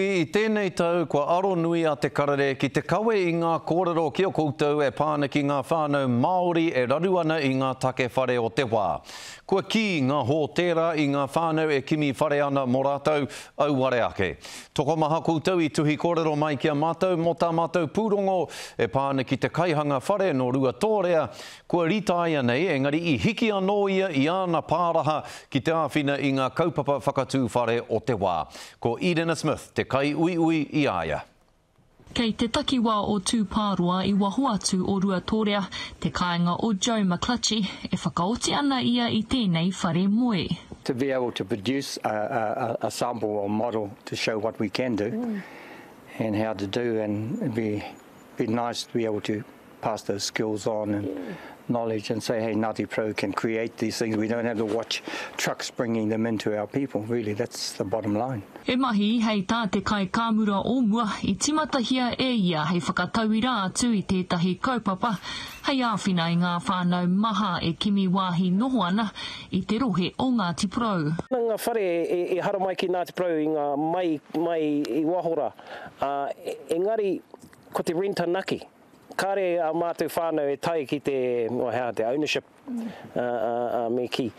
I tēnei tau, kua aro nui a Te Karere ki te kawe i ngā kōrero ki a koutou e pā ana ki ngā whānau Māori e raru ana i ngā take whare o te wā. Kua kī ngā hōtēra i ngā whānau e kimi whare ana mō rātou, auare ake. Tokomaha koutou i tuhi kōrero mai ki a mātou mō tā mātou pūrongo e pā ana ki te kaihanga whare nō Ruatōrea kua rītāia nei engari i hiki anō ia i āna pāraha ki te āwhina i ngā kaupapa whakatū whare o te wā. Ko Edena Smith te kaiuiui i a ia. Kei te takiwā o Tūpāroa i waho atu o Ruatōrea te kāinga o Joe McClutchie e whakaoti ana ia i tēnei whare moe. To be able to produce a sample or model to show what we can do and how to do and be. be nice to be able to pass those skills on and knowledge and say, hey, Ngāti Porou can create these things. We don't have to watch trucks bringing them in to our people. Really, that's the bottom line. E mahi, hei tā te kaikāmura o mua, i timatahia e ia hei whakatauira atu i tētahi kaupapa hei āwhina i ngā whānau maha e kimi wāhi noho ana i te rohe o Ngāti Porou. Nā ngā whare i haramai ki Ngāti Porou i ngā mai mai i waho rā. ā, engari, ko te rent anake. Kāre ā mātou whānau e tae ki te, oh, he aha, te ownership, ā, ā, ā, me kī,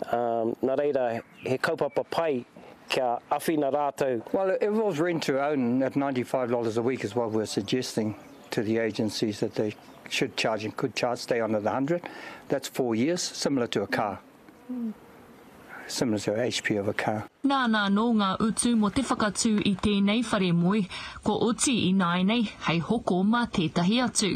ā, nā reira, he kaupapa pai kia awhina rātou. Well, if it was rent to own at ninety five dollars a week is what we're suggesting to the agencies that they should charge and could charge, stay on at the hundred, that's four years, similar to a car. similar to a HP of a car. Nāna anō ngā utu mō te whakatū i tēnei whare moe, kua oti ināianei hei hoko mā tētahi atu.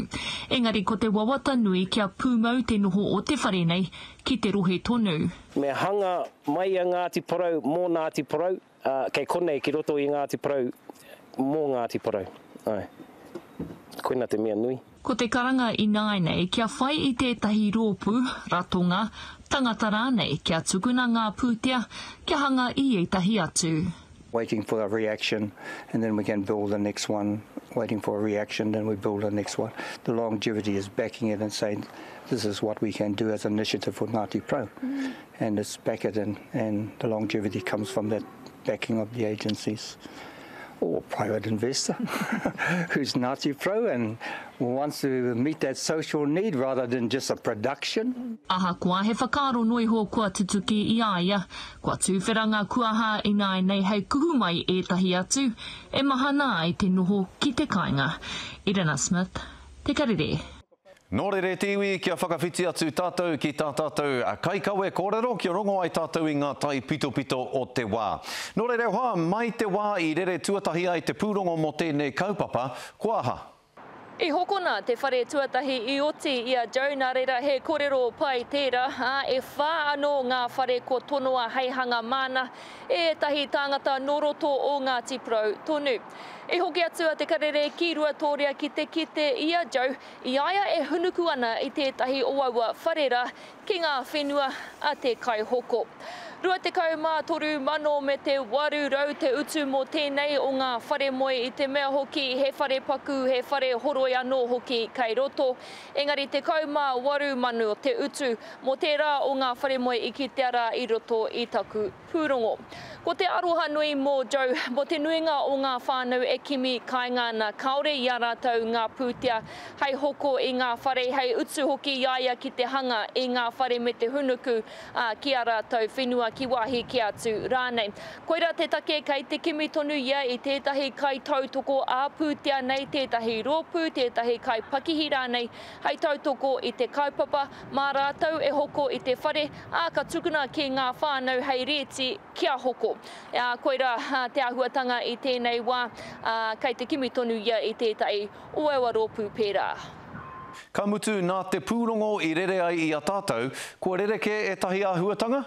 Engari ko te wawata nui kia pūmau te noho o te whare nei ki te rohe tonu. Me hanga mai a Ngāti Porou mō Ngāti Porou. Ā, kei konei ki roto i Ngāti Porou, mō Ngāti Porou. Āe. Koina te mea nui. Ko te karanga ināinei kia whai i tētahi rōpū, ratonga, tangata rānei kia tukuna ngā pūtea kia hanga i ētahi atu. waiting for a reaction and then we can build the next one, waiting for a reaction and then we build the next one. The longevity is backing it and saying this is what we can do as an initiative for Ngāti Porou. and it's backered in and the longevity comes from that backing of the agencies or private investor who's Ngāti Pro and wants to meet that social need rather than just a production. Ahakoa he whakaaro noa iho kua tutuki i a ia, kua tūwhera ngā kuaha ināianei hei kuhu mai ētahi atu e mahana ai te noho ki te kāinga. Irina Smith, Te Karere. Nō rere te iwi kia whakawhiti atu tātou ki tā tātou kaikawe kōrero kia rongo ai tātou i ngā taipitopito o te wā. Nō rere hoa, mai te wā i rere tuatahi ai te pūrongo mō tēnei kaupapa, ko aha? I hokona te whare tuatahi i oti i a Joe nā reira he kōrero pai tērā, ā, e whā anō ngā whare kua tonoa hei hanga māna e ētahi tāngata nō roto o Ngāti Porou tonu. I hoki atu a Te Karere ki Ruatōria ki te kite i a Joe i a ia e hunuku ana i tētahi o aua whare rā ki ngā whenua a Te Kaihoko. Rua tekau mā toru mano me te waru rau te utu mō tēnei o ngā whare moe i te mea hoki he whare paku, he whare horoi anō hoki kei roto, engari tekau mā waru mano te utu mō tērā o ngā whare moe i kitea rā i roto i taku Pūrongo. Ko te aroha nui mō Joe, mō te nuinga o ngā whānau e kimi kainga ana, kāore i a rātou ngā pūtea hei hoko i ngā whare, hei utu hoki i a ia ki te hanga i ngā whare me te hūnuku, ā, ki ā rātou whenua, ki wāhi kē atu rānei. Koirā te take kei te kimi tonu ia i tētahi kaitautoko ā-pūtea nei, tētahi rōpū, tētahi kaipakihi rānei, hei tautoko i te kaupapa, mā rātou e hoko i te whare, ā, ka tukuna ki ngā whānau hei rēti kia hoko. Ā, koirā te āhuatanga i tēnei wā, ā, kei te kimi tonu ia i tētahi o aua rōpū pērā. Ka mutu, nā te pūrongo i rere ai i a tātou, kua rerekē ētahi āhuatanga?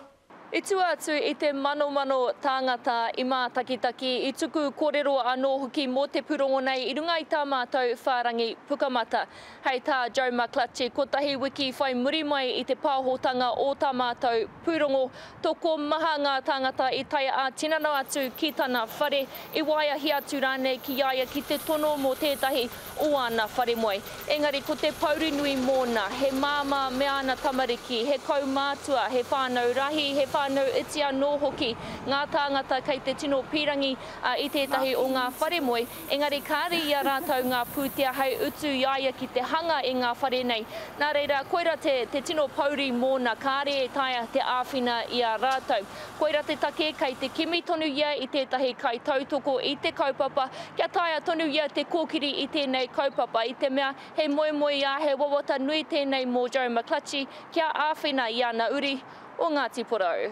I tua atu i te manomano tāngata i mātakitaki, i tuku kōrero anō hoki mō te pūrongo nei i runga i tā mātou whārangi pukamata. Hei tā Joe McClutchie, kotahi wiki whai muri mai i te pāhotanga o tā mātou pūrongo, tokomaha ngā tāngata i tae ā-tinana atu ki tana whare, i waeahi atu rānei ki a ia ki te tono mō tētahi o āna whare moe. Engari ko te pouri nui mōna, he māmā me āna tamariki, he kaumātua, he whānau rahi, he whānau iti anō hoki ngā tāngata kei te tino pīrangi i tētahi o ngā whare moe, engari kāre i a rātou ngā pūtea hei utu i a ia ki te hanga i ngā whare nei. Nā reira, koirā te tino pouri mōna, kāre e taea te āwhina i a rātou. Koira te take kei te kimi tonu ia i tētahi kaitautoko i te kaupapa kia taea tonu ia te kōkiri i tēnei kaupapa i te mea he moemoeā, he wawata nui tēnei mō Joe McClutchy kia āwhina i ana uri o Ngāti Porou.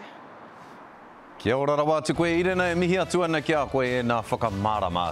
Kia ora rawa atu koe Irena e mihi atu ana ki a koe e na whakamārama.